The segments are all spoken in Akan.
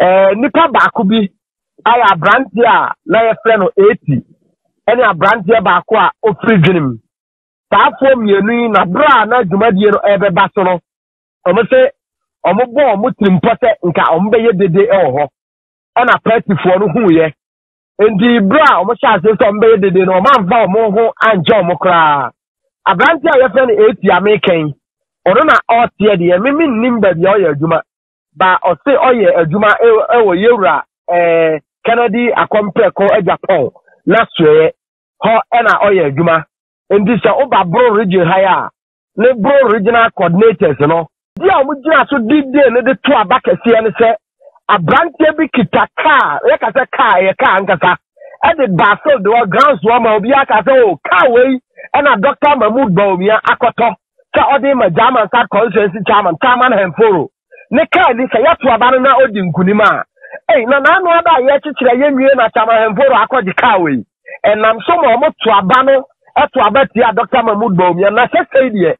Nipa baako bi ayɛ aberanteɛ a na yɛfrɛ no Eti ne aberanteɛ baako a ɔfiri Dwenem. Saa afoɔ mmienu yi na berɛ a na dwumadie no rebɛba so no, wɔn se wɔbɔ wɔn tirimpɔ sɛ nka wɔbɛyɛ dede wɔ hɔ. Ɛna Persifoɔ no huiɛ. Enti berɛ a wɔhyɛ aseɛ sɛ wɔbɛyɛ dede no, wɔamfa wɔn ho ankyɛ wɔn koraa. Aberanteɛ a yɛfrɛ no Eti a mekɛn, ɔno na ɔreteɛ deɛ, me mennim baabi a ɔyɛ adwuma. ba ɔse ɔyɛ adwuma wɔ yɛwura Kennedy akɔmprɛko Agyapong n'asoɛɛ hɔ na ɔyɛ adwuma nti sɛ woba Boro Region ha yi a ne Boro Regional Coordinators no di a wɔn gyina so di dee no de to aba kɛseɛ ne sɛ abranteɛ bi kita kaa yɛka sɛ kaa ɛyɛ kaa ankasa ɛde baa field wɔ grounds wɔ ma obiara ka sɛ o oh, kaa wei ɛna Dr. Mahmood Bawumia akɔtɔ sɛ ɔde rema German South Constituency Chairman Chairman Hemforo ne kaa ni sɛ yɛto aba no na odi nkunim a, ei, na n'ano ada a yɛkyekyerɛ yɛnwie na Chairman Hemforo akɔgye kaa wei. Ɛnam so ma wɔto aba no to aba tia Dr. Mahmoud Bawumia na sɛsɛi deɛ,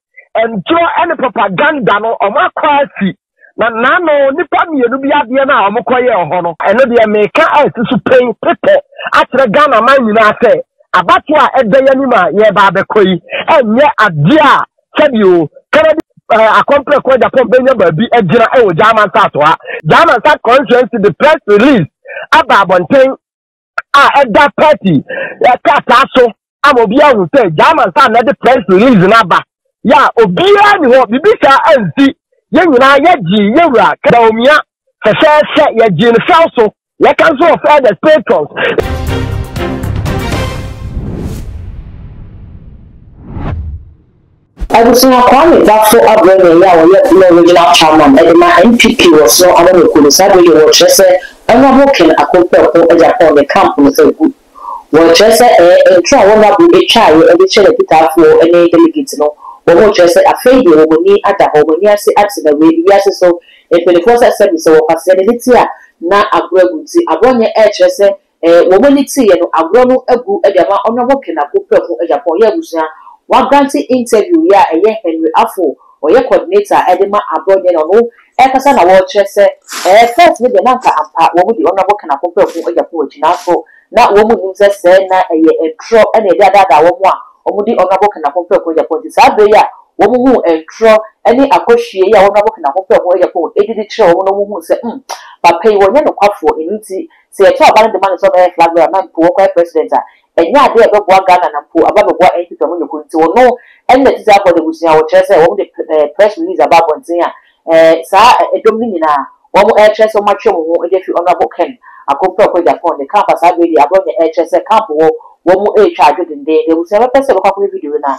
ntoro ne propaganda no wɔakɔ asi. Na naano nnipa mmienu bi adeɛ no a wɔkɔyɛɛ wɔ hɔ no, ɛno deɛ meka a ɛsi so pen petɛ akyerɛ Ghana man nyinaa sɛ abatoɔ a ɛda yɛn anim a yɛreba abɛkɔ yi nyɛ adeɛ a sɛdeɛ o Kennedy eh, akɔmprɛ kɔ Japan bɛnya baabi agyina wɔ Ghana nsato ha. Ghana nsa constituency de press release aba abɔnten a ɛda party krataa so ama obi ahu sɛ german saa na ɛde press release no aba yɛ a obiara ne hɔ biribi saa ansi yɛn nyinaa yɛgyee yɛwura kadaomia fɛfɛɛfɛ yɛgyee no fɛw so yɛka nso wɔ fɛ the patrons Abusua Kwame Bafo abrɛ nea ɛyɛ a ɔyɛ Blo Regional Chairman de ma NPP wɔ Snow Amanyɔkuo no saa berɛ deɛ wɔrekyerɛ sɛ Honourable Ken Akompɛ Ɔko agya pɔn ne camp no agu. Wɔrekyerɛ sɛ ɛɛ ntorɔ a Honourable ɛtwaeɛ de kyerɛ n'akitaafoɔ ne Delegate no wɔn rekyerɛ sɛ afei deɛ wɔn ani ada hɔ, wɔn ani ase ate na wei wiase so mpaninfoɔ sɛ sɛbi sɛ wɔkwaseɛ no ne ti a na aboro agu nti aboro nyɛ ɛrekyerɛ sɛ Eh wɔn ani tee yɛ no agorɔ no agu de ama Honourable Ken Ako Prɛko Agyapong yɛ abusua wagrante interview yɛ a ɛyɛ Henry Afo ɔyɛ coordinator de ma aborɔ nyɛ na ɔno ɛkasa na wɔkyerɛ sɛ eh first no deɛ na anka ampa wɔn di Honourable Ken Ako Prɛko Agyapong akyi nanso na wɔn nnim sɛ sɛɛ na ɛyɛ ntorɔ na yɛde adaadaa wɔn a wɔn di Honourable Ken Ako Prɛko Agyapong nti saa berɛ yi a wɔn huu ntorɔ ne akɔhwie yi a Honourable Ken Ako Prɛko Agyapong ɛdi de kyerɛ wɔn no wɔn huu sɛ mm papa yi wɔnyɛ nokwafoɔ ɛno nti Sɛ yɛkyɛ ɔba no de ma no sɛ ɔbɛyɛ flag bearer ma mpo ɔkɔyɛ president a, ɛnyɛ ade a ɛbɛboa Ghana na mpo aba abɛboa NPP a wɔnyɛ komm nti wɔno ɛna ɛte saa Abɔde abusua a wɔkyerɛ sɛ wɔn de press release aba abɔnten a ɛɛ saa ɛdɔm no nyinaa wɔn ɛɛkyerɛ sɛ wɔn atwe wɔn ho de afiri Honourable Ken Akompra Okpei Agyapong ne camp a saa berɛ deɛ Aborɔnyɛ ɛɛkyerɛ sɛ camp wɔ wɔn ɛɛtwa adwo dendenden deɛ abusua bɛpɛ sɛ wɔbɛkɔ akɔhwɛ video no a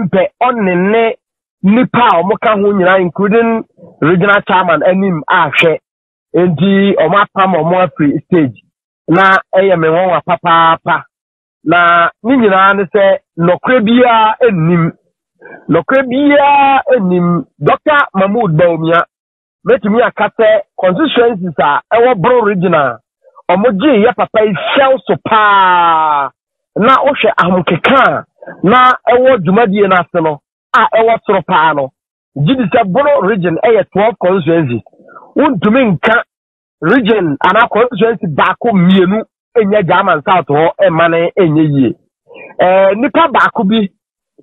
mpɛ ɔne ne nnipa a wɔka ho nyinaa including regional chairman anim ahwɛ nti wɔn apam wɔn afiri stage na ɛyɛ me nwanwa papaapa na ne nyinaa ne sɛ nɔkorɛ biara nnim nɔkorɛ biara nnim dɔkta mahmood baomia Mɛtumi aka sɛ constituencies a ɛwɔ Brong region a wɔgyee yɛ papa yi fɛw so paa na wohwɛ ahomkeka a na ɛwɔ dwumadie no ase no a ɛwɔ soro paa no gye di sɛ Brong region yɛ 12 constituencies wontumi nka region anaa constituency baako mmienu nyɛ german south hɔ mma no nyɛ yie ɛɛ nipa baako bi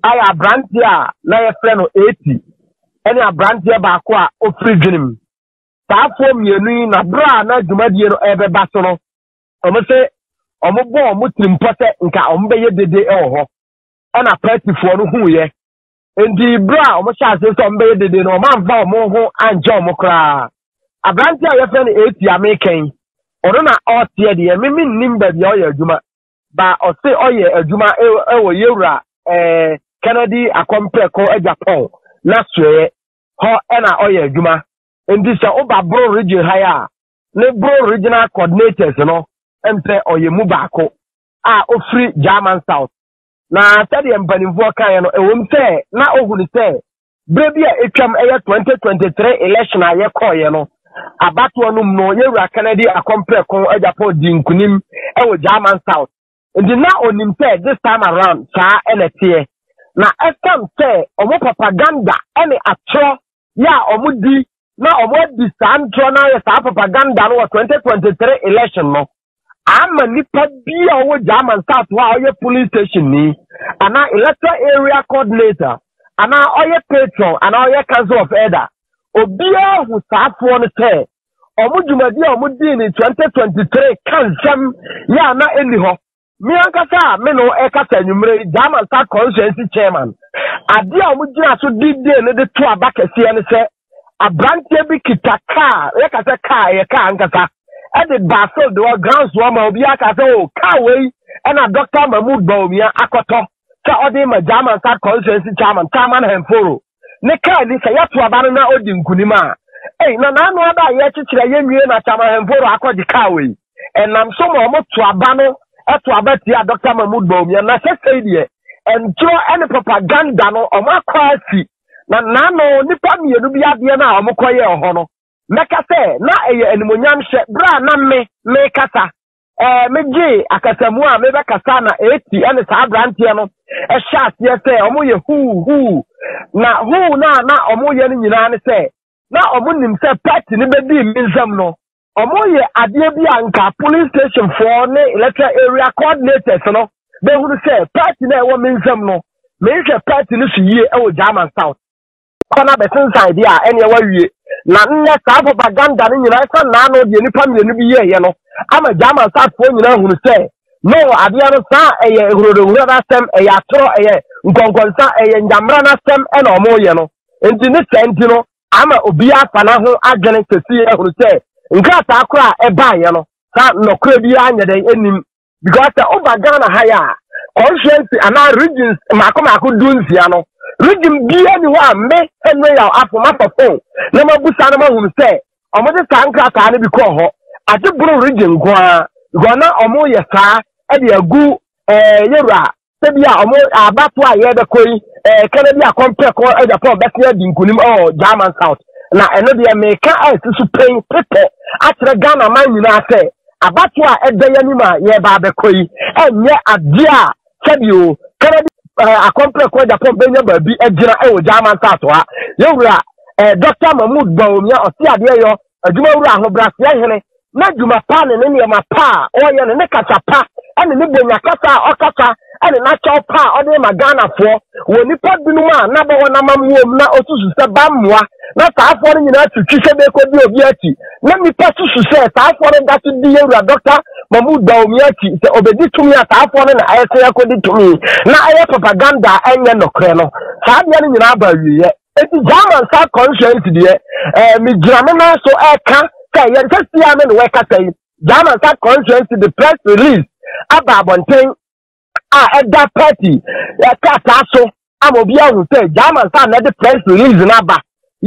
ayɛ aberanteɛ a na yɛfrɛ no eti ɛne aberanteɛ baako a ofiri dwenem saafoɔ mmienu yi na berɛ a na dwumadie no ɛrebɛba so no wɔn sɛ wɔn bɔ wɔn tirimpɔ sɛ nka wɔn bɛyɛ dede wɔ hɔ ɛna pɛtifoɔ no huiɛ Enti bere a wɔhyɛ ase sɛ wɔbɛyɛ dede no, wɔamfa wɔn ho ankyɛ wɔn koraa. Aberante a yɛfrɛ no Eti a mekɛn, ɔno na ɔteɛ deɛ, me mennim baabi a ɔyɛ adwuma, ba ɔse ɔyɛ adwuma wɔ yɛwura eh, Kennedy Akɔmprɛko Agyapɔn na soɛɛ hɔ ɛna ɔyɛ adwuma. Enti sɛ woba Boro region ha a, ne Boro regional coordinators no mpɛ ɔyɛ mu baako a ofiri German South. Na sɛdeɛ mpanimfoɔ kaeɛ no, ɛwom sɛ na ohu no sɛ berɛ bi a atwam ɛyɛ 2023 election a yɛkɔɔeɛ no, abatoɔ no mu no, yɛwura Kennedy akɔmprɛko agyapɔ di nkunim wɔ German South. Nti na onim sɛ this time around saa ɛna teɛ. Na ɛsiane sɛ wɔn propaganda ne atorɔ yɛ a wɔdi na wɔadi saa ntorɔ no ayɛ saa propaganda no wɔ 2023 election no, ama nipa bi a ɔwɔ german south hɔ a ɔyɛ polling station ni anaa electoral area coordinator anaa ɔyɛ patron anaa ɔyɛ council of elder obiara hu saafoɔ no sɛ wɔn dwumadi a wɔn dii ne 2023 ka nsɛm yɛ a na ɛnni hɔ me ankasa a me no ɛkasa anwummerɛ yi german south constituency chairman adeɛ a wɔn gyina so didie no de to aba kɛseɛ no sɛ aberanteɛ bi kita kaa yɛka sɛ kaa ɛyɛ kaa ankasa ɛde baa field hɔ grounds hɔ ma obiara ka sɛ o kaa wei ɛna Dr. Mahmood Bawumia akɔtɔ sɛ ɔde ma German South constituency chairman Taman Henforo ne kaa ni sɛ yɛto aba no na odi nkunim a ei na n'ano ada a yɛkyekyerɛ yɛnwie na Taman Henforo akɔgye kaa wei ɛnam so ma wɔn to aba no ɛto aba tia Dr. Mahmood Bawumia na sɛ sɛi deɛ ɛntorɔ ɛne propaganda no wɔn akɔ asi Na nnaano nnipa mmienu bi adeɛ no a wɔkɔyɛɛ hɔ no, mɛka sɛ na ɛyɛ animuonyamhyɛ berɛ a na me mekasa. Ɛɛ, megyee akasamu a mebɛkasa na eti ne saa aberanteɛ no hyɛ aseɛ sɛ wɔyɛ huu huu. Na huu no a na wɔyɛ no nyinaa ne sɛ na ɔmo nim sɛ pɛt no bɛdii me nsam no, ɔmo yɛ adeɛ bi a nka polling station foɔ ne electoral area coordinators no bɛhunu sɛ pɛt no a ɛwɔ me nsam no, menhwɛ pɛt no so yie wɔ German South. Kɔ na bɛsensan deɛ a ɛneɛ wawie. Na nnɛ saa propaganda no nyinaa ɛsan naano deɛ nipa mmienu bi yɛɛyɛ no ama German South foɔ nyinaa hunu sɛ no adeɛ no saa ɛyɛ ehurode ehurode asɛm, ɛyɛ atorɔ, ɛyɛ nkɔnkɔnsa, ɛyɛ ngyammerɛ no asɛm ɛna ɔmo yɛ no. Enti ne saa nti no, ama obiara afa no ho adwene kɛse ahunu sɛ nkrataa koro a ɛbaeɛ no sa nnɔkorɛ biara nyɛ dɛn anim because sɛ woba ghana ha yɛ a constituency anaa regions mmaako mmaako du nsia no region biara ni hɔ a me henry yaw afo mafa fon na mabusa no mahunu sɛ wɔde saa nkrataa no bi kɔɔ hɔ agye boro region nko ara because na wɔyɛ saa de agu ɛɛ yɛwura Ebi a wɔn abatoɔ a yɛrebɛkɔ yi ɛɛka no bi a kɔmpɛkɔ Japan bɛtumi adi nkunim wɔ German South na ɛno deɛ meka a ɛsi so pɛn pepɛ akyerɛ Ghana man nyinaa sɛ abatoɔ a ɛda yɛn anim a yɛreba abɛkɔ yi ɛnyɛ adeɛ a sɛbio kɛnɛ bi akɔmpɛkɔ Japan bɛnya baabi agyina wɔ German South ha yɛwura Dr. Mahmoud Bawumia ɔte adeɛ yɔ Adwumawura ahobrɛaseɛ hene n'adwuma pa ne ne nneɛma pa a ɔreyɛ ne ne kasa pa ne ne bonya kasa a ɔkasa ne n'akyɛw pa a ɔde ma Ghanafoɔ wɔ nnipa binom a n'abɔ wɔn amammuo mu na ɔsusu sɛ bammoa na saafoɔ no nyinaa twitwi sɛ bɛkɔdi obi akyi na nnipa susu sɛ saafoɔ no da so di yɛ wura dɔkta Mahmoud Dawumi akyi sɛ ɔbɛdi tumi a saafoɔ no na ɛsɛ akɔdi tumi na ɛyɛ propaganda a ɛnyɛ nɔkorɛ no saa deɛ no nyinaa ba awieɛ Eti German saa conscience deɛ ɛɛ eh, megyina me nan so ɛka sɛ yɛn kɛseɛ me na wɔkasa yi German saa conscience de press release aba abɔnten a ɛda party ɛkrataa so ama obi ahu sɛ German saa na ɛde press release no aba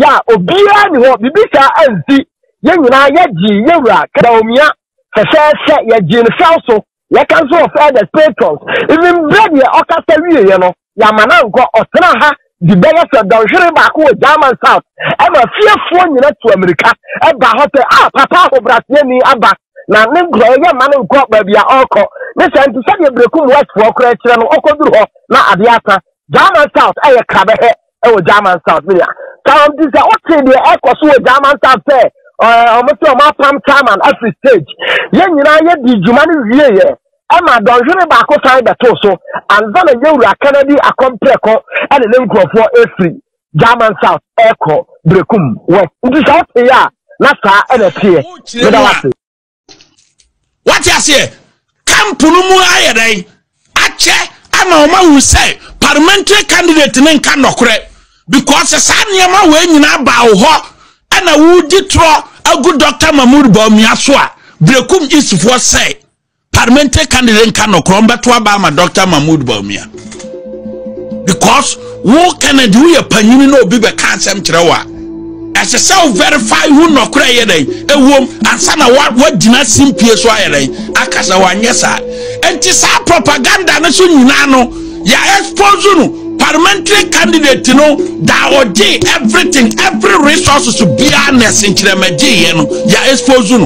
yɛ a obiara ne hɔ biribi saa ansi yɛn nyinaa yɛgye yɛwura kadaomia fɛfɛɛfɛ yɛgye ne fɛw so yɛka nso wɔ fathers patrons even berɛ deɛ ɔkasa wieɛ no yɛama no ankɔ ɔtena ha de bɛyɛ sɛ dɔnhwere baako wɔ german south ɛma fiefoɔ nyina tu amirika ɛba hɔ sɛ a ah, papa ahobraseɛ ni aba na ne nkurɔyɛ yɛ ma no nkɔ baabi a ɔrekɔ ne sɛ nti sɛdeɛ berɛkum westfoɔ korɛ kyerɛ no ɔkɔduru hɔ na adeɛ asa german south ɛyɛ krabɛhɛ ɛwɔ german south media karamti sɛ wote deɛ ɛkɔ so wɔ german south sɛ ɔmo sɛ ɔmo apam chairman afiri stage yɛn nyinaa yɛdi dwuma no wie yɛ ɛma dɔnhwere baako san bɛto so ansa na yɛwura kanadi akɔmprɛkɔ ɛne ne nkurɔfoɔ afiri german south ɛkɔ brekum west nti sɛ wote yɛ a na saa ɛna teɛ meda wase wate aseɛ camp no mu ayɛ dɛn akyɛ ama wɔn ahu sɛ parliamentary candidate ne nka nnɔkorɛ because saa nneɛma wɔ nyinaa baa wo hɔ ɛna wodi torɔ agu dr mahmood bawumia so a berekum isifoɔ sɛ parliamentary candidate nka nnɔkorɛ ɔmbɛto aba ama dr mahmood bawumia because wo kennedy woyɛ panyini na obi bɛka asɛm kyerɛ wo a ɛsɛ sɛ wo verify ho nnɔkorɛ yɛ dɛn ɛwom ansa na woagyina simpie so ayɛ dɛn aka sɛ wanyɛ saa ɛnti saa propaganda no so nyinaa no yɛ expose no parliamentary candidate no da ɔgye everything every resources biara na ɛsenkyerɛmagyeeɛ no yɛ expose no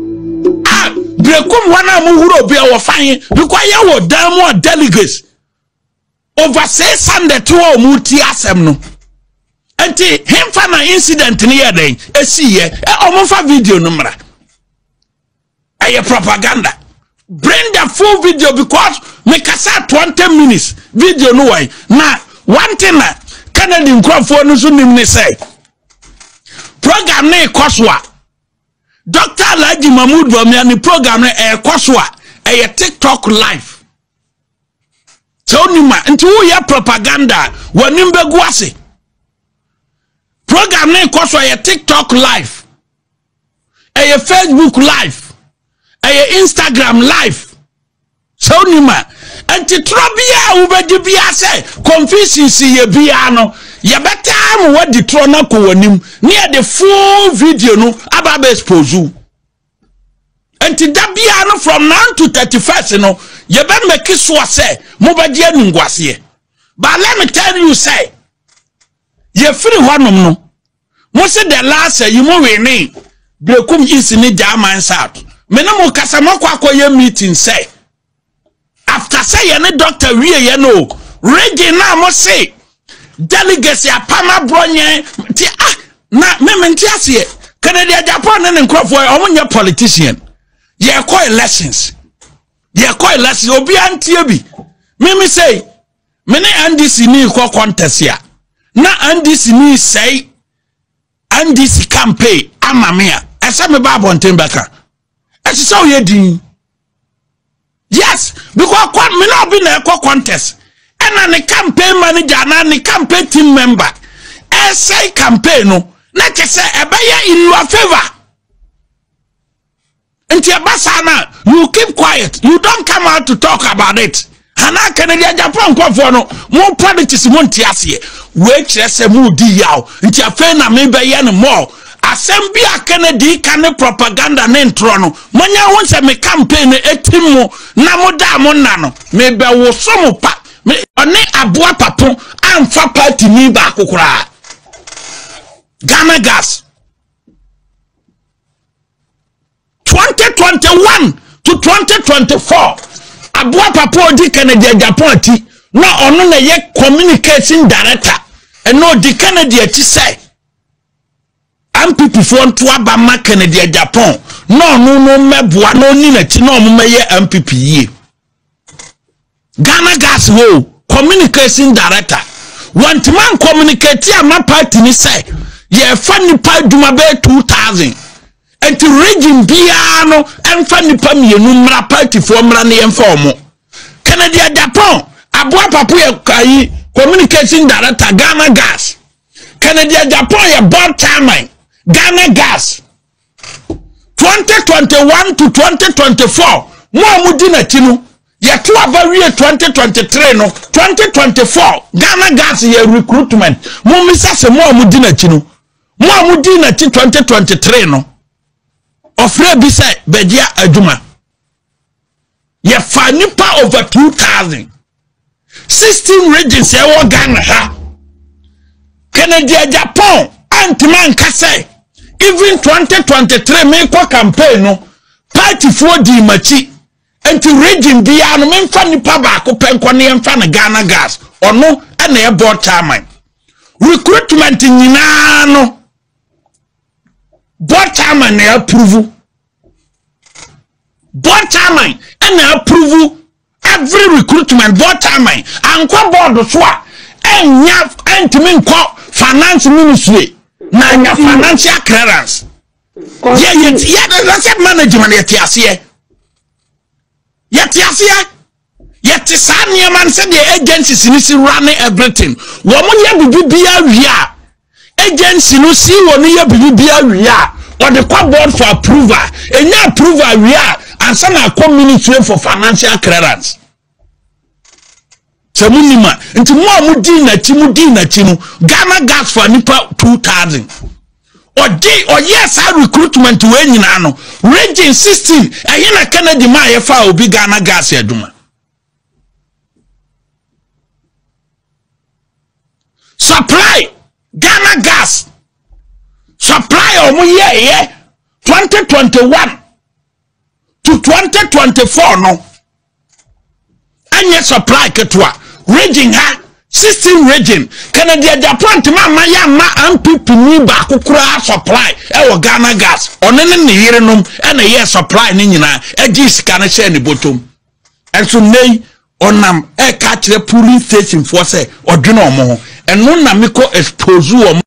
a brekum wɔn a mo huro bi a wɔfa he because yɛ wɔ dan mu a delegates over six hundred to a wɔn ti asɛm no nti hemfa na incident no yɛ dɛn esi yɛ ɛ wɔn fa video no mmra ɛyɛ propaganda bring the full video because mekasa twenty minutes video no wɔn na one thing na kennedy nkurɔfoɔ no nso nim ne sɛ program ne kɔ so a. Doctor Alhaji Mahmood Bawumia ne program no ɛrekɔ so a ɛyɛ TikTok live. Sɛ wonim a nti woyɛ propaganda a w'anim bɛgu ase. Program no ɛkɔ so a ɛyɛ TikTok live. Ɛyɛ Facebook live. Ɛyɛ Instagram live. sɛ wonim a nti torɔ biara a wobɛdi biara sɛ confusions yɛ biara no yɛbɛtaa ma woadi torɔ no akɔ w'anim ne yɛde full video no aba abɛ expose wo nti da biara no from now to thirty first no yɛbɛmɛki soɔ sɛ mobɛgye anunguaseɛ but let me tell you sɛ yɛfiri hɔnom no Mo se the last ayi mo wene Brekum East ne Gyaman South. Me ne mo kasa mo akɔ akɔ yɛ meeting sɛ after sɛ yɛ ne doctor wie yɛ no region na mo se delegates apam aborɔ nyɛ ti ah na me me nti aseɛ Kennedy Agyapong ne ne nkurɔfoɔ ɔmo nyɛ politician yɛkɔ elections yɛkɔ elections obiara ntie bi mimi sei me ne ndc ni kɔ contest a na ndc ni sɛe ndc campaign ama me a ɛsɛ me ba abɔnten bɛka ɛsɛ sɛ ɔyɛ din yes because kɔ me na ɔbi na ɛkɔ contest ɛna ne campaign manager anaa ne campaign team member ɛsɛe campaign no na kyɛ sɛ ɛbɛyɛ in your favour nti ɛba saa na you keep quiet you don't come out to talk about it anaa canadian japan nkɔfoɔ no mo politics mo nte aseɛ wei kyerɛ sɛ mo di yaw nti afei na me bɛyɛ no more asɛm bi a kennedy ka ne propaganda ne ntorɔ no monyɛ ho sɛ me campaign no ɛtim mo na mo da mo nna no mebɛwoso mo pa ɔne aboa papo amfa party ni baako koraa ghana gas twenty twenty one to twenty twenty four aboa papa odi kennedy agyapon ati na ɔno na ɛyɛ communication director ɛna odi kennedy akyi sɛ npp foɔ nto aba ma kennedy agyapon na ɔno no mmɛboa na ɔni n'akyi na ɔmo mɛyɛ npp yie. ghana gas hɔ o communication director wɔntumi ancommunicate ama party ne sɛ yɛfa nnipa adwuma bɛyɛ 2000 nti region biara no ɛmfa nnipa mmienu mmara partyfoɔ mmara ne yɛmfa ɔmo kennedy adapɔn aboa papo yɛ kayi communication director ghana gas kennedy adapɔn yɛ board chairman ghana gas twenty twenty one to twenty twenty four mo a mo di n'akyi no yɛto aba wie twenty twenty three no twenty twenty four ghana gas yɛ recruitment mo mmisa sɛ mo a mo di n'akyi no mo a mo di n'akyi twenty twenty three no ɔfrɛ bi sɛ bɛgyia adwuma. yɛfa nipa over two thousand sixteen regions ɛwɔ ghana ha kennedy japan antuma nka sɛ even twenty twenty three mekɔ campaign no paatifoɔ dii m'akyi nti region biara no memfa nipa baako pɛ nkɔ ne yɛmfa no ghana gas ɔno ɛna ɛbɔ chairman recruitment nyinaa no bɔ chairman na approve board chairman ɛna approve every recruitment board chairman ankɔ board so a ɛnya ɛntumi nkɔ finance ministry na anya financial clearance yɛ yɛ yɛ asset management yɛ te aseɛ yɛ te aseɛ. Yɛte saa nneɛma no sɛdeɛ agencies no si wura ne everything wɔn yɛ biribiara wie a agency no si wɔn yɛ biribiara wie a wɔde kɔ board for approval enya approval wie a ansa na akɔ ministry for financial clearance sɛ mo nim a nti mo a mo di n'akyi mo di n'akyi no ghana gas for nipa two thousand. Ɔde ɔyɛɛ saa recruitment wei nyinaa no, Region 16 ɛhe na Kennedy maa yɛfaa obi Ghana gas adwuma. Supply Ghana gas supply a wɔyɛeɛ 2021 to 2024 no ɛnyɛ supply ketewa region ha 16 region kennedy agyapɔ ntoma ama yɛ ama npp ni baako koraa supply ɛwɔ ghana gas ɔne ne ne yerenom ɛna ɛyɛ supply ne nyinaa ɛgye sika no hyɛ ne bɔtɔm ɛnso nnɛ yi ɔnam ɛka kyerɛ polling station foɔ sɛ ɔdwene wɔn ho ɛno na mekɔ expose wɔn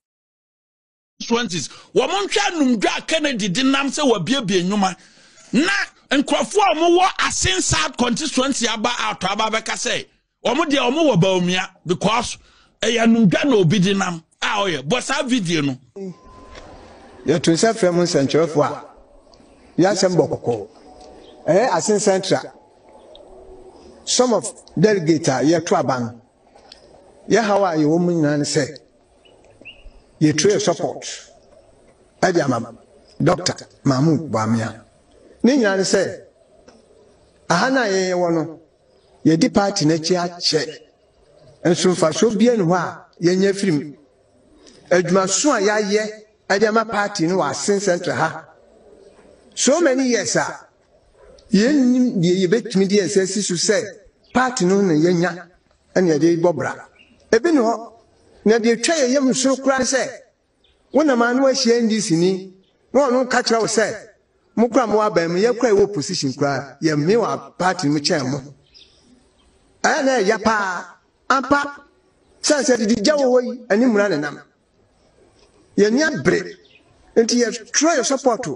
constituencies wɔn nhwɛ anumdwa a kennedy de nam sɛ wabiebie nnwuma na nkurɔfoɔ a wɔwɔ asen south constituency aba atɔ aba bɛka sɛ wɔn deɛ wɔn wɔ baomia because ɛyɛ anumdwa na obi de nam a ɔyɛ bɔ saa video no. yɛto nsa frɛ mo nsɛnkyerɛfoɔ a yɛasɛm bɔ kɔkɔɔ ɛyɛ asen central some of delegate a yɛto aba no Yɛ haw a yɛwɔ mu nyinaa ne sɛ yɛ tree support ɛde ama Dɔkta Mahmood Bawumia. Ne nyinaa ne sɛ aha no a yɛn yɛwɔ no yɛdi party no akyi akyɛ nso mfasoɔ bia ne hɔ a yɛnya firim. Adwumaso a yɛayɛ ɛde ama party no wɔ Asen Central ha so many years a Yennim deɛ yɛbɛtumi de yɛn nsa asi so sɛ part no na yɛanya na yɛde rebɔ bra. Ebi nni hɔ. Na deɛ ɛtwa yɛn yam soro koraa ne sɛ, wonam a na woahyia NDC ni, na ɔno reka kyerɛ wo sɛ, mo koraa mowɔ aban mu, yɛn koraa yɛwɔ opposition koraa, yɛmmee wɔ part no mu kyɛn mo. Ɛyɛ a na ɛyɛ ya paa. Ampa, sane sɛ didie gya wɔ hɔ yi, ɛne mmara na ɛnam. Yɛnnya bere nti yɛtwerɛɛ sɔpɔɔto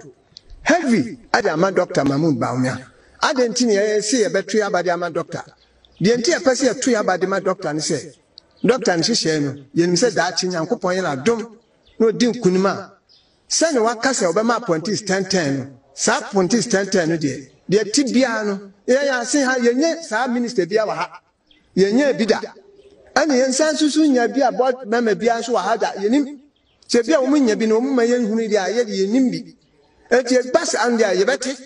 heavy de ama Dɔkta Mahmood Bawumia. Adɛn nti na yɛse yɛbɛto yɛaba de ama Dɔkta? Deɛ nti a yɛpɛ sɛ yɛto yɛaba de ma Dɔkta ne sɛ, Dɔkta ne nhyehyɛeɛ no, yɛnim sɛ daakye Nyankopɔn yɛ no adom na ɔdi nkunim a, sɛdeɛ waka sɛ ɔbɛma apɔntis tɛntɛn no, saa apɔntis tɛntɛn no deɛ, deɛ ɛte biara no, yɛyɛ aseha, yɛnnya saa Minister biara wɔ ha. Yɛnyɛɛ bi da. Ɛna yɛnsan nsusu nnya bi a board member biara nso wɔ ha da. Yɛnnim. Sɛ bi a wɔnnya bi no wɔmma yɛnhunui deɛ a, yɛde yɛnnim bi. Enti ɛba saa no deɛ a, yɛbɛte.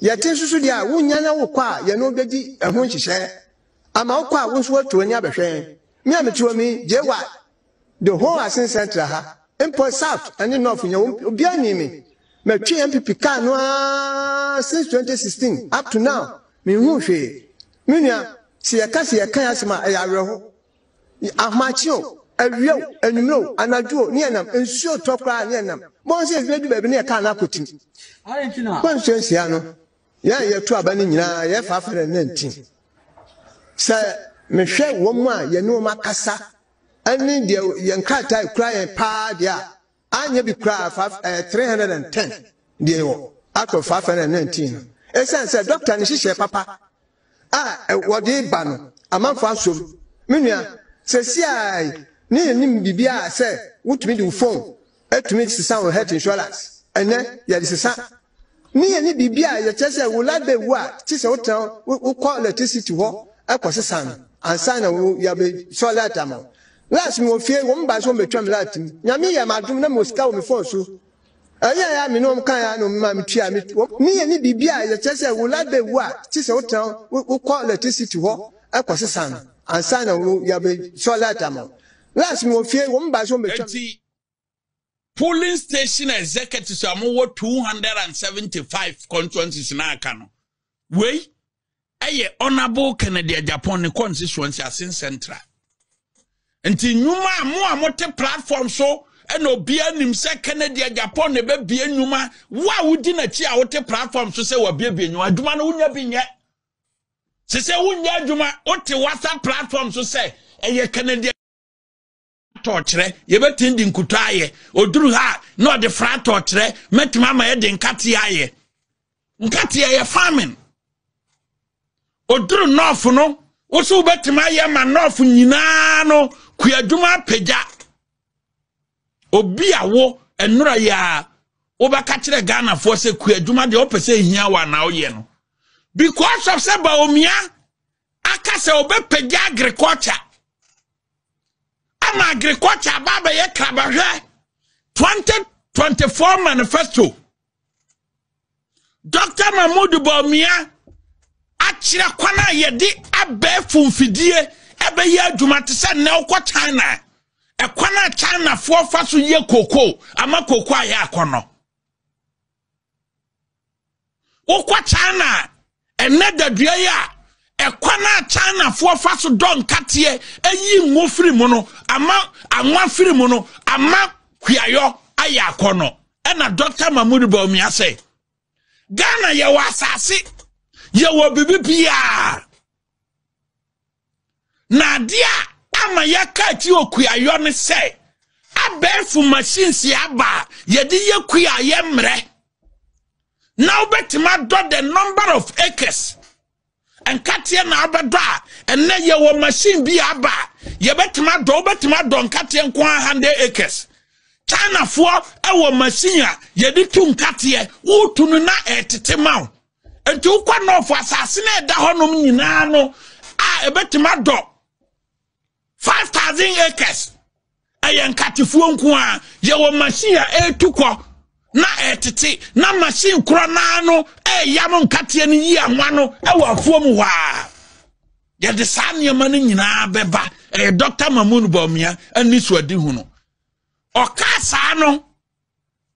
Yɛte nso so deɛ a, wonnya na wokɔ a, yɛne wo bɛdi ɛho nhyehyɛɛ. Ama wokɔ a, wo nso woatu w'ani abɛhwɛ yɛn. Me a mete hɔ mi, JY, The whole Asin Central ha, mpo South ne North nyinaa wɔn obiara nni me. Matwe NPP car no ara since 2016 up to now, menhuu hwee. Me nua, sɛ yɛka sɛ yɛkan asɛm a, ɛyɛ awerɛho. Ahomakye o, awia o, anwummere o, anadwo o, ne yɛnam. Nsuo retɔ koraa a, ne yɛnam. Bɔn sɛ ebi adu baabi ne yɛn car no akɔtim. Kwansuo nsia no, Yɛn a yɛto aba no nyinaa yɛfa afɛ na ɛnna nti. Sɛ mehwɛ wɔn a yɛne wɔn akasa ne deɛ yɛn nkrataa ekura yɛn paa deɛ a, anyɛ bi koraa fa ɛyɛ three hundred and ten deɛ yɛwɔ out of five hundred and nineteen no. Esiane sɛ dɔkta no hyehyɛ papa a wɔde ba no amanfo asom. Me nua, sɛsiaa ne yɛn nim biribiara sɛ wotumi de wo phone atumi sesa wo health insurance. Ɛnɛ yɛde sesa Ne yɛ ne biribi a yɛ kyerɛ sɛ wo library wu a kye sɛ wo tena wo wo kɔ electricity hɔ ɛkɔ sesa no ansa na wo yɛ bɛ sɔ light ama wo last mi wɔ fie wɔn ba so wɔn bɛ twa mi light mu nyame yɛ ma adum na mi wɔ sika wɔ mi phone so ɛyɛ ya mi ne wɔn kan ya na wɔn ma mi tua mi wɔn ne yɛ ne biribi a yɛ kyerɛ sɛ wo library wu a kye sɛ wo tena wo wo kɔ electricity hɔ ɛkɔ sesa no ansa na wo yɛ bɛ sɔ light ama wo last mi wɔ fie wɔn ba so wɔn bɛ twa. Enti, polling station executives a wɔwɔ two hundred and seventy five constituencies na aka no wei ɛyɛ honourable kennedy ajapon ne constituency asen central nti nnwuma a mo a mote platform so ɛna obiara nim sɛ kennedy ajapon na ɛbɛbie nnwuma wo a wodi n'akyi a wote platform so sɛ wabiebie nnwuma adwuma no wonya bi nyɛ sɛ sɛ wonya adwuma wote whatsapp platform so sɛ ɛyɛ kennedy atɔɔkyerɛ yɛbɛtumi de nkuto ayɛ ɔduru ha a na ɔde fra atɔɔkyerɛ mɛtumi ama yɛde nkateɛ ayɛ nkateɛ yɛ farming ɔduru nɔɔfo no wo so wobɛtumi ayɛ ma nɔɔfo nyinaa no kuadwuma apagya obi a wo nnora yi a wobɛka kyerɛ ghanafoɔ sɛ kuadwuma deɛ wopɛ sɛ ɛhia wo anaa woyɛ no because of sɛ baomia aka sɛ ɔbɛpagya agriculture ama agriculture aba abɛyɛ krabahwɛ 2024 manifesto dr mahmood bawumia akyerɛ kwan a yɛde abɛɛfo mfidie ɛbɛyɛ adwuma te sɛ nnɛ wokɔ china ɛkwan a chinafoɔ fa so yɛ koko ama koko ayɛ akɔnɔ wokɔ china ɛnɛ dadua yi a ɛkwan a chinafoɔ fa so dɔ nkateɛ ayi ngo firi mu no ama anwa firi mu no ama hwiayɔ ayɛ akɔ no ɛna dɔkta mahmud baumia sɛ ghana yɛwɔ asase yɛwɔ biribi biaa Na adeɛ a ama yɛaka akyi wɔ kuayɔ ne sɛ abɛɛfo machines aba a yɛde yɛ kua a yɛmmerɛ na wobɛtumi adɔ the number of acres nkateɛ na wobɛdɔ a ɛnɛ yɛwɔ machine bi aba a yɛbɛtumi adɔ wobɛtumi adɔ nkateɛ nko a 100 acres chinafoɔ wɔ machine a yɛde tu nkateɛ wotu no na ɛtete ma wo nti wokɔ nɔɔfo asase no ɛda hɔnom nyinaa no a ɛbɛtumi adɔ 5000 acres ɛyɛ nkatefoɔ nko a yɛwɔ machine a ɛretu kɔ na ɛtete na machine korɔ naa no ɛyam nkateɛ no yi anwa no ɛwɔ afuo mu hɔ a yɛde saa nneɛma no nyinaa bɛba ɛyɛ dɔkta mamun bɔmmea ani so adi hu no ɔka saa no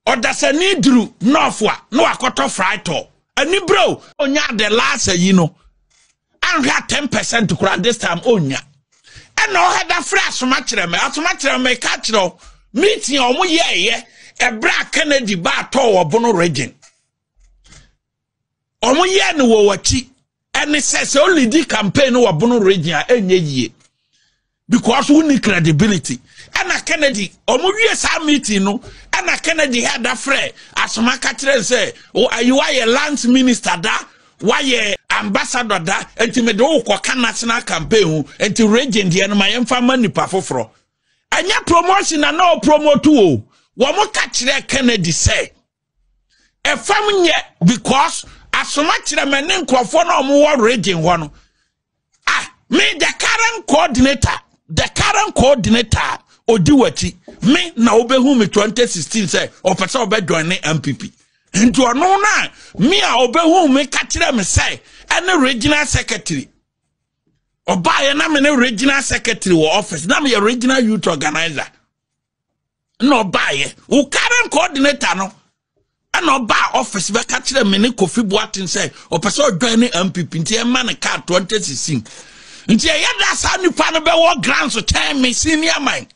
Ɔdasani duru nɔɔfo a na wakɔtɔ fraitɔ ani bere o. Onya the last ayi no anhwɛ a ten percent koraa this time onya. Ɛna ɔha da frɛ asomakyerɛ me asomakyerɛ me ka kyerɛ o meeting a wɔn yɛɛyɛ ɛbrɛ a Kennedy baa tɔɔ wɔ Bono region. wɔn yɛ no wɔ wɔakyi ɛne sɛ sɛ ɔlidi campaign no wɔ bono region a ɛnyɛ yie because wonni credibility ɛna kennedy wɔn wie saa meeting no ɛna kennedy yɛ ada frɛ asoma ka kyerɛ sɛ ayiwa yɛ lands minister da wayɛ ambassador da nti mede wo kɔka national campaign ho nti region deɛ no ma yɛmfa ma nipa foforɔ ɛnyɛ promotion na na ɔpromote o wɔn ka kyerɛ kennedy sɛ ɛfam nyɛ because asoma kyerɛ mɛ ne nkurɔfoɔ na wɔn wɔ region hɔ no ah me the current coordinator the current coordinator odi wakyi me na obehu me 2016 sɛ ɔpɛ sɛ ɔbɛ join ne npp nti ɔno na me a obehu me ka kyerɛ me sɛ ɛne regional secretary ɔbaayɛ na me ne regional secretary wɔ office na me yɛ regional youth organizer. na ɔbaeɛ wo current coordinator no ɛna ɔbaa office bɛka kyerɛ me ne kofi boaten sɛ ɔpɛ sɛ ɔdwan ne mpp nti ɛma ne car 2016 nti ɛyɛ da saa nipa no bɛwɔ grants kyɛn me senior man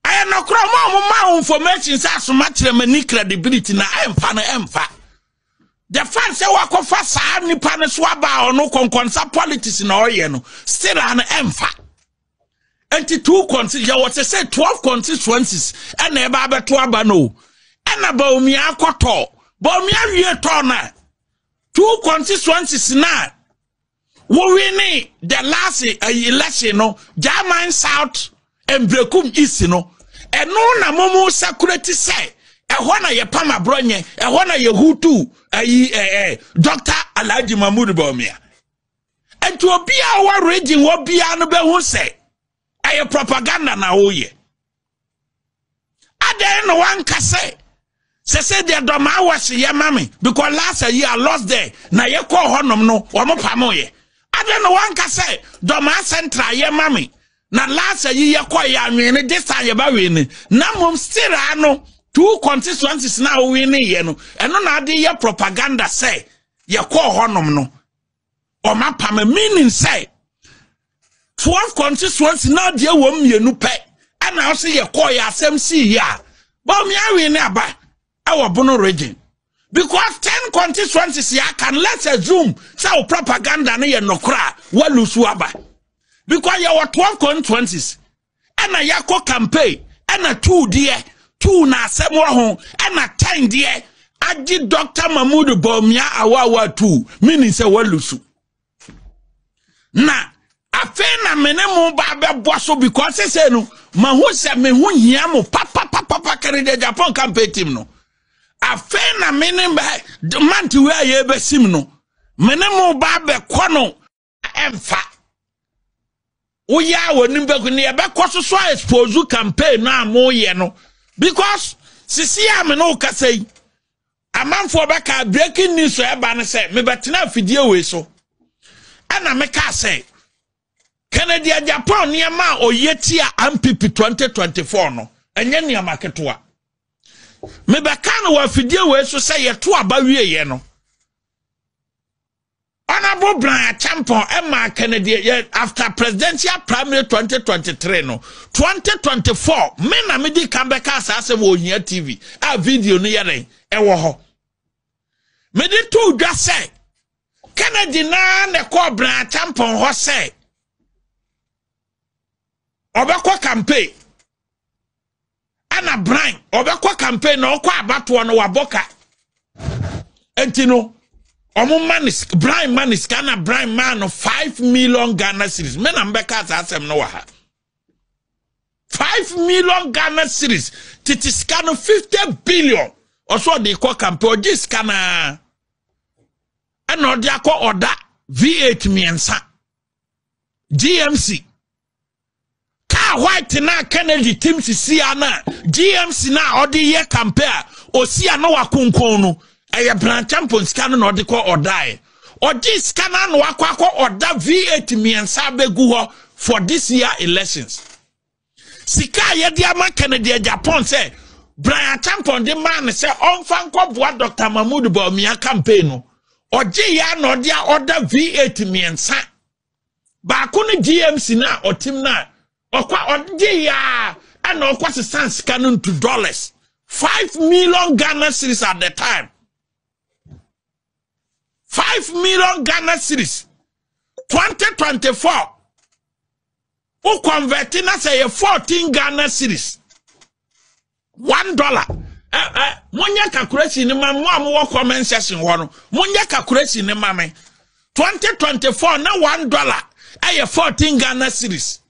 ɛyɛ nɔkorɔ ma ɔmo ma wo information sɛ asoma kyerɛ m'ani credibility na ɛmfa no ɛmfa the fact sɛ wakɔfa saa nipa no so aba ɔno kɔnkɔnsa politics na ɔyɛ no still an ɛmfa nti two constituencies yɛwɔ te sɛ twelve constituencies ɛna ɛba abɛto aba no ɛna baomia akɔtɔ baomia wie tɔ na two constituencies na wowene the last eh, election no german south mbrekum east no ɛno na momu sakurati sɛ ɛhɔ na yɛpam aborɔ nyɛ ɛhɔ na yɛhutu ayi ɛɛ eh, eh, dɔkta alhaji mahmud baomia nti obi a ɔwɔ region hɔ biara no bɛhu sɛ ɛyɛ propaganda na woyɛ adɛn na wanka sɛ sɛ sɛ deɛ dɔma awɔhye yɛ ma me because last year I lost there na yɛkɔɔ hɔnom no wɔn pamoyɛ adɛn na wanka sɛ dɔma central yɛ ma me na last year yɛkɔɔ yɛ anwene this time yɛba wene na mmom still ano two constituencies na wowene yɛ no ɛno na ade yɛ propaganda sɛ yɛkɔɔ hɔnom no wɔn apam meaning sɛ twelve constituency na adeɛ wɔn mmienu pɛ ɛna ɔsɛ yɛ kɔɔ yɛ asɛm si yɛ a bɔmi awi ne aba ɛwɔ bono region because ten constituencies yɛ aka no let's assume sɛ o propaganda no yɛ nɔkora a wɔlusu aba because yɛ wɔ twelve constituencies ɛna yɛakɔ campaign ɛna tuu deɛ tuu na asɛm wɔ ho ɛna tɛn deɛ agye dɔkta mahmud bɔmia awaawa tuu menim sɛ walu so na afei na me ne mo ba bɛbɔ so because sɛ no mahu sɛ me ho hia mo papapapapa kɛne deɛ japan campaign team no afei na me ne mante wei a yɛbɛsim no me ne mo ba bɛkɔ no ɛmfa woyɛ a wɔnim bɛkɔ ne yɛbɛkɔ so so a expose campaign no a moyɛ no because sisi a me ne wo kasa yi amanfoɔ bɛka breaking news a ɛba no sɛ mebɛtena afidie wei so ɛna mekaa sɛ kennedy japan nneɛma a ɔyɛ tia mpp 2024 no ɛnyɛ nneɛma ketewa mebɛka no wɔ afidie wei so sɛ yɛto aba wieɛ no Honourable Brian Acheampong maa Kennedy yɛ after presidential primary 2023 no 2024 me na medi kan bɛka saa asɛm wɔ Ohia TV a video no yɛ dɛn ɛwɔ hɔ mede too dwa sɛ Kennedy naa na ɛkɔɔ Brian Acheampong hɔ sɛ ɔbɛkɔ campaign ɛna bran ɔbɛkɔ campaign na ɔkɔ abatoɔ no wabɔ ka nti no ɔmo ma no bran ma no sika na bran ma no five million ghana series me na mbɛka saa asɛm no wɔ ha five million ghana series tete sika no fifty billion ɔsɔ ɔde kɔ campaign ɔgye sika naa ɛna ɔde akɔ ɔda v8 mmiɛnsa gmc kaa white na kennedy tim sisi a na gmc na ɔde yɛ kampe a osi a na wakonkon no ɛyɛ branchampon sika no na ɔde kɔ ɔdae ɔgye sika no ano akɔ akɔ ɔda v8 mmiɛnsa abɛgu hɔ for this year elections sika a yɛde ama kennedy a japan sɛ brian champon de maa no sɛ ɔmfa nkɔboa dr mahmood baumia campaign no ɔgye yɛ a na ɔde a ɔda v8 mmiɛnsa baako ne GMC no a ɔtem no a ɔkɔ a ɔgye yaa ɛna ɔkɔ sesan sika no nto dollars five million Ghana series at the time five million Ghana series twenty twenty four o convert na sɛ yɛ fourteen Ghana series. one dollar monyɛ calculation no ma mo a mowɔ comment section hɔ no monyɛ calculation no ma me 2024 na one dollar ɛyɛ 14 ghana series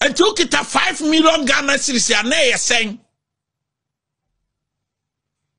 nti wokita 5 million ghana series a na ɛyɛ sɛn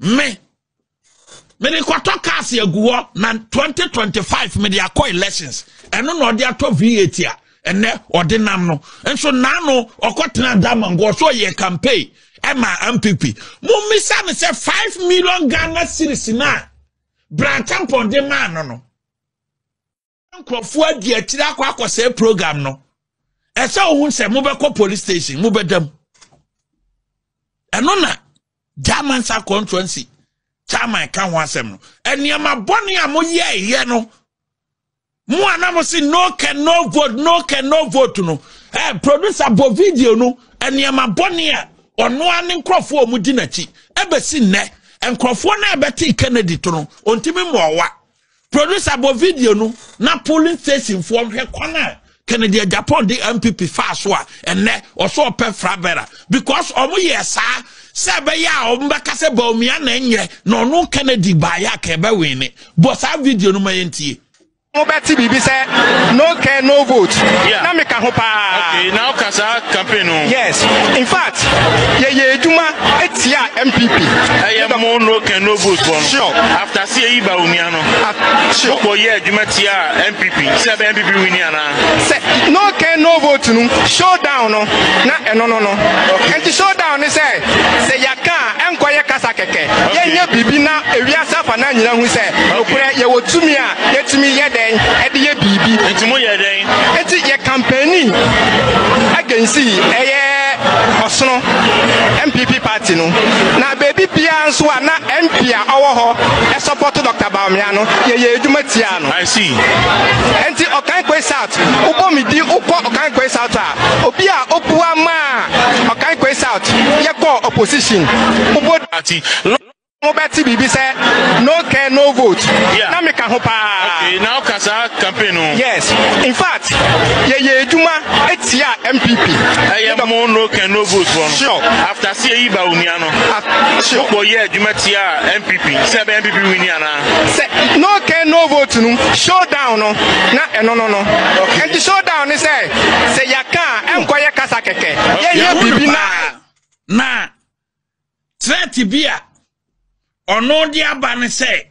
me mede kɔtɔ cars agu hɔ na 2025 mede akɔ elections ɛno na ɔde atɔ v8 a ɛnɛ ɔde nam no nso naano ɔkɔtena damango ɔsɛ ɔyɛ campaign ɛma mpp mommisa no sɛ 5 million ghana series no a brantampɔn de maa no no nkurɔfoɔ adi akyiri akɔ akɔsɛe program no ɛsɛ ohu sɛ mobɛkɔ police station mobɛda mu ɛno na german sa constituency chairman ka ho asɛm no nneɛma bɔne a moyɛɛyɛ no mo a na mo se no can no vote no can no vote no ɛɛ eh, producer bɔ video no nneɛma bɔne a ɔno a ne nkurɔfoɔ a wɔdi n'akyi ɛbɛsi nnɛ nkurɔfoɔ no a ɛbɛte kennedy to no ɔntumi mmɔɔwa Producer bɔ video no na polling station foɔ nhwɛ kwan a Kennedy Agyapong de MPP faa so a ɛnɛ ɔsɔ ɔpɛ frabɛra because ɔmo yɛ saa sɛ ɛbɛyɛ a ɔmo bɛka sɛ Bawumia na ɛnyɛ na ɔno Kennedy baayɛ a ka ɛbɛwin ne bɔ saa video no ma yɛn tie. mo bɛ ti biribi sɛ no care no vote yeah. na mi ka ho paa. okay na o kasa campaign o. yes in fact yɛ yɛ edwuma etia mpp. ɛyɛ mo no care no vote bɔ no. sure after Ti eyi ba onua no akyi. Wo kɔ yɛ adwuma tia NPP sɛ ɛbɛyɛ NPP wini anaa. Sɛ no can no vote no show down no na ɛno no no. Ɛnti show down ne sɛ sɛ yɛ ka a ɛnkɔ yɛ kasa kɛkɛ. Yɛ nyɛ biribi na ewiase afa naa nyina hu sɛ nokorɛ yɛ wɔ tumi a yɛ tumi yɛ dɛn ɛde yɛ biribi. Ɛnti mo yɛ dɛn. Ɛnti yɛ campaigni againsi ɛyɛ ɔsono NPP party. Ati no, na baabi biara nso a na MP a ɔwɔ hɔ sɔpɔto Dɔkta Bawumia no, yɛyɛ adwuma tiaa no. I see. Enti Ɔkankwe South, wobɔ me di wokɔ Ɔkankwe South a, obi a obua maa Ɔkankwe South yɛkɔɔ opposition, wobɔ. Ati. mobɛte biribi sɛ no care no vote yeah. na meka ho paa okay, na woka saa campaign no yes in fact yɛyɛ adwuma atia mpp ɛyɛ mo no care no vote fɔ no sure after sɛ yɛyi ba onua no sure wokɔ yɛ adwuma tia mpp sɛ ɛbɛ mpp wini anaa sɛ no care no vote no showdown no na ɛno no no ɛnti showdown ne sɛ sɛ yɛaka a ɛnkɔyɛ kasa kɛkɛ yɛyɛ biribi na na Threat bi a ɔno de aba ne sɛ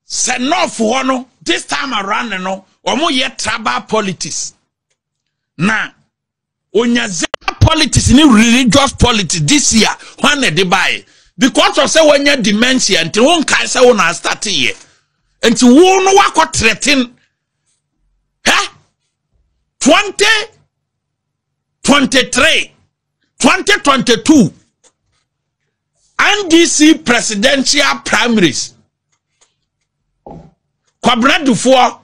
sɛ north hɔ no this time around no wɔyɛ tribal politics na onya zebra politics ne religious politics this year hwan na ɛde baeɛ because of sɛ wɔanya dementia nti wo nkae sɛ wo na astarteeɛ nti wo no wakɔ threaten hɛ 20 23 2022 ndc presidential primaries kwabena dufoɔ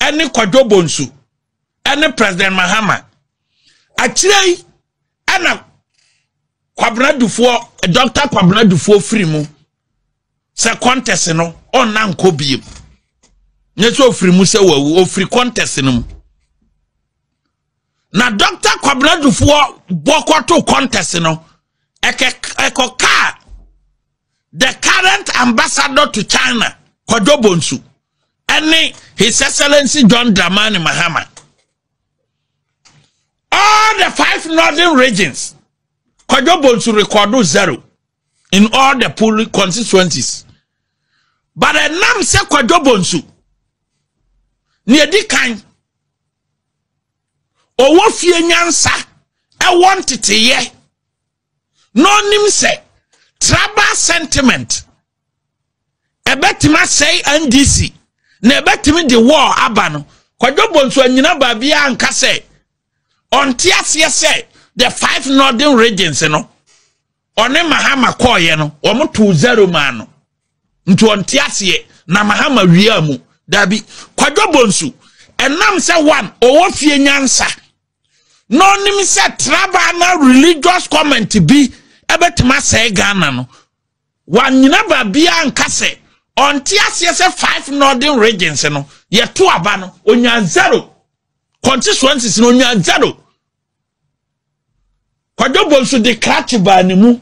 ɛne kwadwo bonsu ɛne president mahama akyire yi ɛna kwabena dufoɔ dr kwabena dufoɔ firi mu sɛ contest no ɔnna nkɔ biem nyɛ sɛ ɔfiri mu sɛ wawu ɔfiri contest no mu na dɔkta kwabena dufoɔ bɔkɔto contest no ɛkɔ kaa the current ambassador to china kwadwo bonsu ɛne his excellency john dramani mahama all the five northern regions kwadwo bonsu rekɔdo zero in all the polling constituencies but ɛnam sɛ kwadwo bonsu nea edi kan ɔwɔ fie nyansa ɛwɔ nteteyɛ na ɔnim sɛ tribal sentiment ɛbɛtumi asɛe ndc na ɛbɛtumi de wɔɔ aba no kwadwo bonsu anyina baabi a nka sɛ ɔnte aseɛ sɛ the five northern regions no ɔne mahama kɔɔyɛ no wɔn too zero maa no nti ɔnte aseɛ na mahama wia mu daabi kwadwo bonsu ɛnam sɛ one ɔwɔ fie nyansa na ɔnim sɛ traba na religious comment bi ɛbɛtumi asɛe ghana no wanyina baabiara nka sɛ ɔnte aseɛ sɛ five northern regions no yɛto aba no onya zero constituencies no onya zero Kwadwo Bonsu de krakye baa ne mu.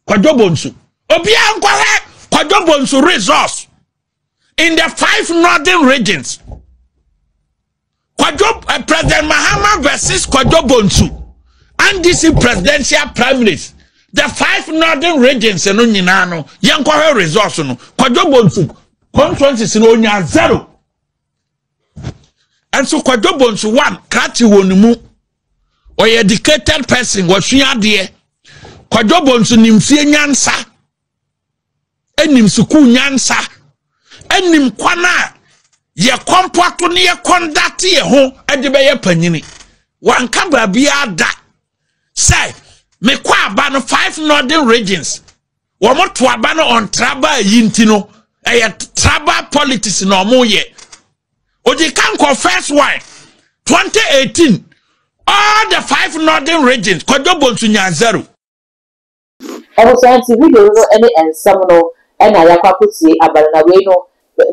Kwadwo Bonsu. Obiara nkɔhwɛ Kwadwo Bonsu resource in the five northern regions. Kwadwo uh, President Mahama versus Kwadwo Bonsu. NDC presidential primaries. The five northern regions no nyinaa no yɛnkɔhwɛ resource no. Kwadwo Bonsu constituencies no onya zero. ɛnso kwadwo bonsu one krakye wɔ ne mu ɔyɛ educated person wɔsua adeɛ kwadwo bonsu nim fie nyansa ɛnim sukuu nyansa ɛnim kwan a yɛ kɔmpo ato ne yɛ kɔndate yɛ ho ɛde bɛyɛ panyini wanka baabiara da sɛ mekɔ aba no five northern regions wɔn to aba no on traba yi nti no ɛyɛ traba politics na wɔn yɛ odi kan kɔ first one twenty eighteen all the five northern regions kɔjɔ bonsu nyanzaro. Ɛno saa nti video no no ɛne ɛnsɛm no ɛna yakɔ akɔtie aba no na wei no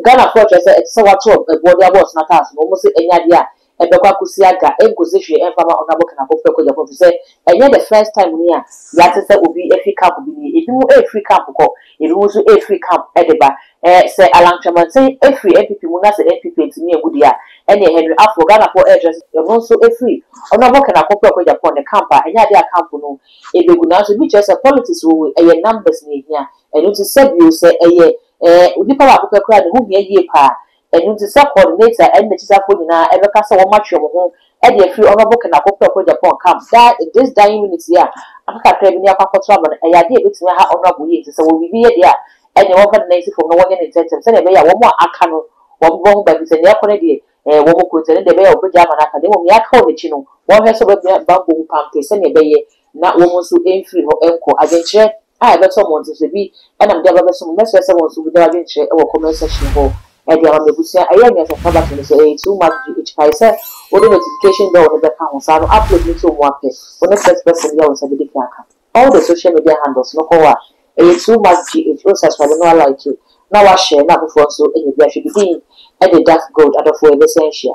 Ghana foɔ kyerɛ sɛ ɛte sɛ wato ɛboɔ de abɔ ɔsono ataaso na wɔn se ɛnyɛ adeɛ a ɛbɛkɔ akɔsi aga ɛnkɔsi hwee ɛmfa mma Honourable Ken Akoffre Kwadjafo ɛfiri sɛ ɛnyɛ the first time ni a yate sɛ obi ɛfiri camp bi nie ɛbi mo ɛrefiri camp kɔ ɛbi mo nso ɛrefiri camp ɛde ba ɛɛ sɛ Allan Kyerematen ɛfiri NPP mu na sɛ NPP antumi angu deɛ a ɛneɛ Henry Afoɔ Ghana foɔ ɛrekyerɛ sɛ ɛno nso ɛfiri Honourable Ken Akoffre Kwadjapon ne camp a ɛnyɛ adeɛ a camp no Ebegu nanso ebi kyerɛ sɛ politics wɔ mu ɛyɛ numbers na ehia ɛno nti sɛ bio sɛ ɛyɛ ɛɛ onipa baako pɛ koraa na ɛho hia yie paa ɛno nti sɛ coordinator ɛne n'akyisafoɔ nyinaa ɛbɛka sɛ wɔn atwe wɔn ho ɛde afiri honourable Ken Ako Preko Agyapong camp daa in this dying minute yi a aka kakra bi ne akɔ akɔto aba no ɛyɛ adeɛ a ɛbɛtumi aha honourable yie nti sɛ wɔwɔ biribi yɛ deɛ a ɛneɛ wɔmfa ne nan nsi fam na wɔnyɛ no ntɛntɛm sɛdeɛ ɛbɛyɛ a wɔn a aka no wɔn bɛbɔ ho ban firi sɛ nea ɛrekɔ no deɛ Ɛɛ, wɔ mo kurotia no deɛ ɛbɛyɛ a wɔbɛgyae ama no aka, na mmom nea aka wɔ n'akyi no, wɔnhwɛ sɛ wɔbɛbea bammɔ mu pampee sɛnea ɛbɛyɛ na wɔn nso mfiri hɔ nkɔ. Adwenkyerɛ a ɛbɛtɔ mmɔnten so, ebi nam de aba abɛsom mo. Mɛsrɛ sɛ wɔn nso wobɛgyaw adwenkyerɛ wɔ comment section hɔ de ama me abusua. Ɛyɛ anyansafo abatwɛn no sɛ ɛyɛ too much gye akyi paa sɛ wode notification bell no bɛka ho saa no upload no nso mmoa pɛ, wo ne first person yɛ a wo nsa bɛdi kan aka. All the social media handles no kɔɔ a ɛyɛ too much GH oh saserade no a like na wa share na afoforɔ nso nya bi ahwɛ bi din de Dark Gold adɔfoɔ yɛ bɛsan ahyia.